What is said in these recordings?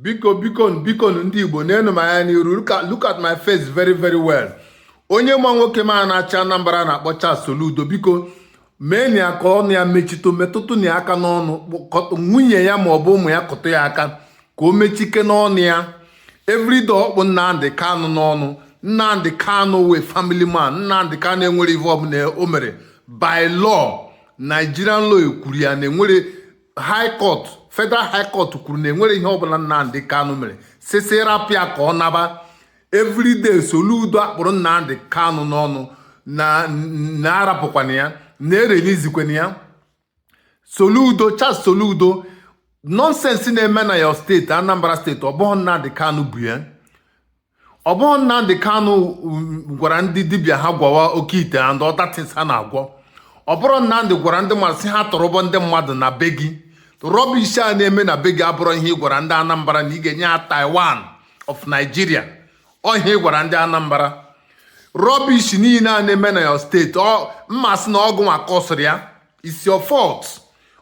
biko biko biko ndị Igbo nenu m anya n'iru look at my face very very well onye ma nwoke m a na-achị Anambra na-akpọ Charles Soludo biko meenụ ya ka ọnụ ya mechitụ metụtụnụ ya aka n'ọnụ nwunye ya ma ọ bụ ụmụ ya kụtụ ya aka ka o mechikene ọnụ ya everyday ọ kpụ Nnamdi Kanu n'ọnụ Nnamdi Kanu wụ a family man Nnamdi Kanu enwere ive ọbụla o mere by law Nigerian law ekwuru ya na enwere high court federal high court kwuru na enwere ihe ọbụla Nnamdi Kanu mere sị sị rapụ ya ka ọ naba everyday Soludo akpụrụ Nnamdi Kanu n'ọnụ na na arapụkwana ya na erelizikwana ya Soludo Charles Soludo nonsense na-eme na your state Anambra State ọ bụghị Nnamdi Kanu bu ya ọ bụrọ Nnamdi Kanu gwara ndị dibịa ha gwọwa oke ite and other things ha na-agwọ ọ bụrọ Nnamdi gwara ndị mmadụ sị ha tọrọba ndị mmadụ na be gị rubbish a na-eme na be gị abụrọ ihe ị gwara ndị Anambra na ị ga-enye ha Taiwan of Nigeria ọ ihe ị gwara ndị Anambra rubbish niile a na-eme na your state m ma sị na ọ gịnwa kọsịrị ya it's your fault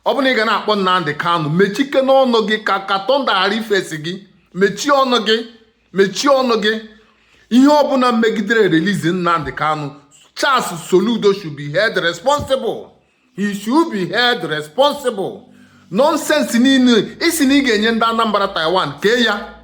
ọ bụ na ị ga na-akpọ Nnamdi Kanu mechikene ọnụ gị ka ka thunder ghara ifesi gị mechie ọnụ gị mechie ọnụ gị ihe ọbụla megidere release Nnamdi Kanu Charles Soludo should be held responsible he should be held responsible nonsense niile ị sị na ị ga-enye ndị Anambra Taiwan kee ya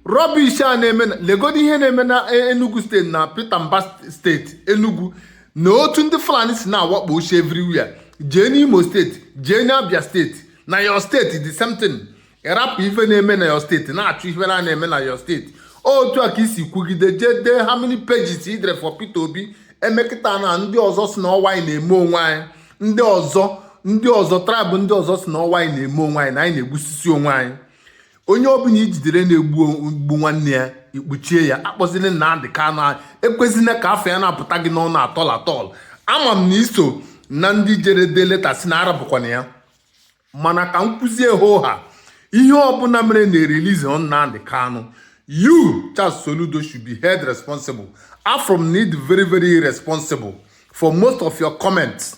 rubbish a na-eme na legodo ihe na-eme na e, Enugu State na Peter Mbah state Enugu na otu ndị Fulani si na-awakposi everywhere jee n'Imo State jee n'Abia State na your state the same thing ị rapụ ife na-eme na your state na-achụ ife na na-eme na your state otu a ka i si kwugide jee dee how many pages i dere for Peter Obi emekata na ndị ọzọ sị na ọ wụ anyị na-eme onwe anyị ndị ọzọ ndị ọzọ tribe ndị ọzọ sị na ọ wụ anyị na-eme onwe anyị na anyị na-egbusisi onwe anyị onye ọbụla i jidere na-egbu gbu nwanne ya ị kpọchie ya akpọzile Nnamdi Kanu ekwezina ka afa ya na-apụta gị n'ọnụ at all at all ama m na i so na ndị jere dee leta sị na arapụkwana ya mana ka m kwuzie ha ihe ọbụla mere na erilizirọ Nnamdi Kanu you Charles Soludo should be held responsible I found it very very irresponsible for most of your comments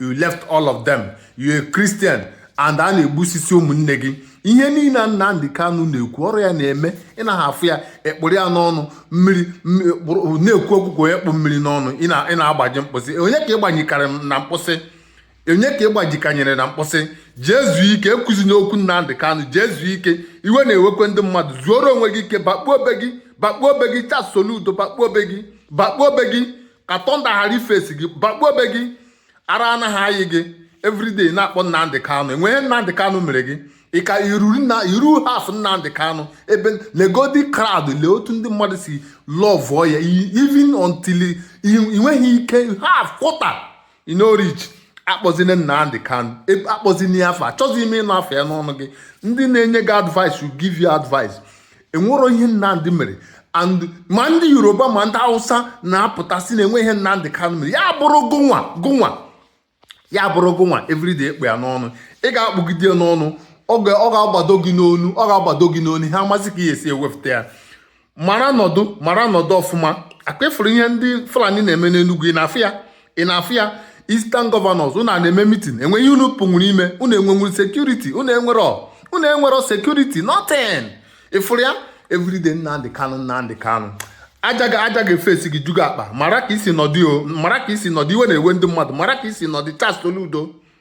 you left all of them you a Christian and a na-egbusisi ụmụnne gị ihe niile Nnamdi Kanu na-ekwu ọ rọ ya na-eme ị naghị afụ ya akpụrụ ya n'ọnụ mmiri na-ekwu okwu onye kpụ mmiri n'ọnụ ị na-agbaji mkpụsị onye ka ị gbanyekarị na mkpụsị onye ka ị gbajikanyere na mkpụsị jee zuo ike ekwuzina okwu Nnamdi Kanu jee zuo ike iwe na-ewekwe ndị mmadụ zuoro onwe gị ike bakpuo obe gị bakpuo obe gị Charles Soludo bakpuo obe gị bakpuo obe gị ka tọnda ghara ifesi gị bakpuo be gị ara anaghị ayị gị everyday na-akpọ Nnamdị Kanụ enweghị ihe Nnamdị Kanụ mere gị ị ka eru haf Nnamdị Kanụ ebe legodi crowd lee otu ndị mmadụ si lọvụọ ya even until ị nweghị ike haf kwọta you no reach akpọzina Nnamdi Kanu e, akpọzina ya afa achọghị m ịnụ afa ya n'ọnụ gị ndị na-enye gị advice will give you advice enwero ihe Nnamdi mere and ma ndị Yoruba ma ndị Hausa na-apụta sị na enweghị ihe Nnamdi Kanu mere ya bụrụ gụnwa gụnwa ya bụrụ gụnwa everyday ị kpụ ya n'ọnụ ị ga-akpụgide ya n'ọnụ ọ ga-agbado gị n'ọnụ ọ ga-agbado gị n'ọnụ ha amasị ka ị esi ewepụta ya mara nọdụ mara nọdụ ọfụma ọkwa ị fụrụ ihe ndị fulani na-eme n'enugwu ị na-afụ ya ị na-afụ ya eastern governors unu a na-eme mitin enweghị ihe unu pụnwuru ime unu enwenwuro sekuriti unu enwero unu enwero sekuriti nothing ị fụrụ ya everyday nnamdị kanụ nnamdị kanụ aja ga aja ga-efesi gị ju gị akpa mara ka i si nọdụ o mara ka i si nọdụ iwe na-ewe ndị mmadụ mara ka i si nọdụ charles soludo